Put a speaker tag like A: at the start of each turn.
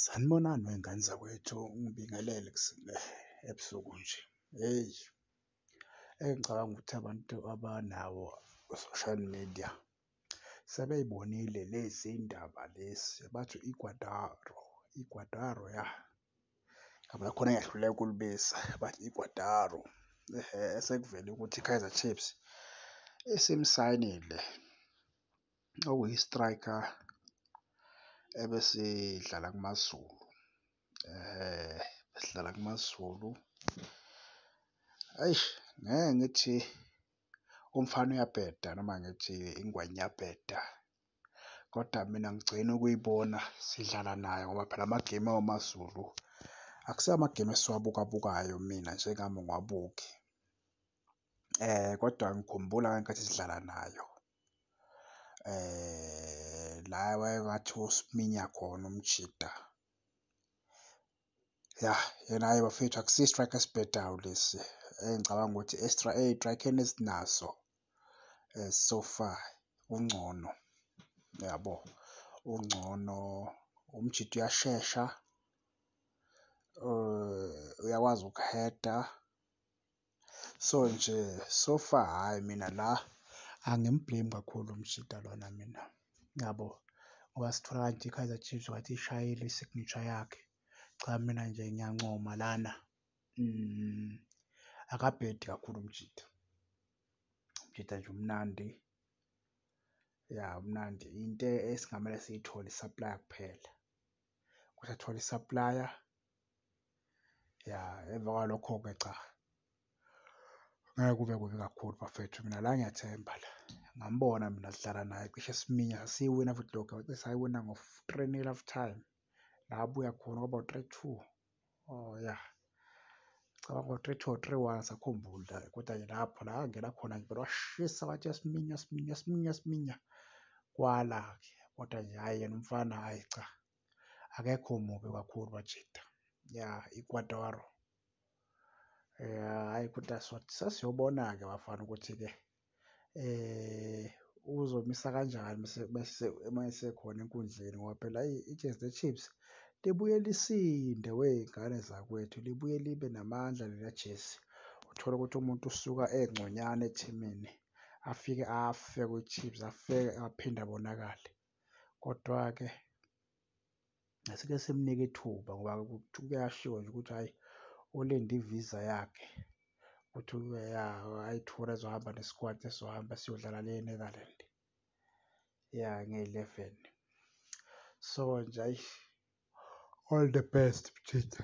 A: Sanibonani wey'ngane zakwethu, ngibingelele ebusuku nje. Hheyi engicabanga ukuthi abantu abanawo o-social media sebey'bonile lezi ndaba lezi bathi igwadaro, igwadaro yah ngiyabona khona engiyahluleka ukulibiza bathi igwadaro. Sekuvele ukuthi i-Kaizer Chiefs isimsayinile okuyi-striker ebesidlala kuMaZulu besidlala kuMaZulu. Eish ngeke ngithi umfana uyabheda noma ngithi ingwenya iyabheda kodwa mina ngigcina ukuyibona sidlala nayo ngoba phela amagemu awoMaZulu akusiwo amagemu esiwabukabukayo mina njengami ungawabuki. Kodwa ngikhumbula ngenkathi sidlala nayo la wayengathi usiminya khona umjita ya yena-ke bafethu akusiyo i-strike esibhedayo lesi engicabanga ukuthi ey'trakeni esinazo so far ungcono yabo ungcono umjita uyashesha uyakwazi ukuheda. So nje so far hhayi mina la angim-blame kakhulu uMjita lona mina yabo ngoba sithola kanje iKaizer Chiefs wathi ishayile i-signature yakhe. Cha mina nje ngiyancoma lana akabhedi kakhulu uMjita. UMjita nje umnandi ya umnandi into esingamele siyithole i-supply kuphela. ukuthi athole i-supplier ya emva kwalokho-ke cha ngeke kube kubi kakhulu bafethu mina la ngiyathemba la ngambona mina sidlala naye cishe siminya sasiyiwina futhi lokho wacishe sayiwina ngo-three nil half time la abuya khona kwaba u-three two Oh ya. Cabanga ngo 3 to 3 wa sakhumbula kodwa ke lapho la ngena khona ngibona washisa wathi yasiminya siminya siminya siminya kwala ke kodwa nje hayi yena umfana hayi cha akekho mubi kakhulu wajita ya ikwadoro eh hayi kodwa sasiyobona ke bafana ukuthi ke uzomisa kanjani uma esekhona enkundleni ngoba phela ayi iChiefs neChiefs libuye lisinde wey'ngane zakwethu, libuye libe namandla leliya jezi. Uthole ukuthi umuntu usuka engconywana ethimini afike afe kwiChiefs afike aphinde abonakale. Kodwa-ke. asike simnike ithuba ngoba kuyashiwo nje ukuthi hhayi ulinde i-visa yakhe ukuthi ayi-tour ezohamba ne-squad esizohamba siyodlala le eNetherland ya nge-eleven so nje ayi all the best mjitha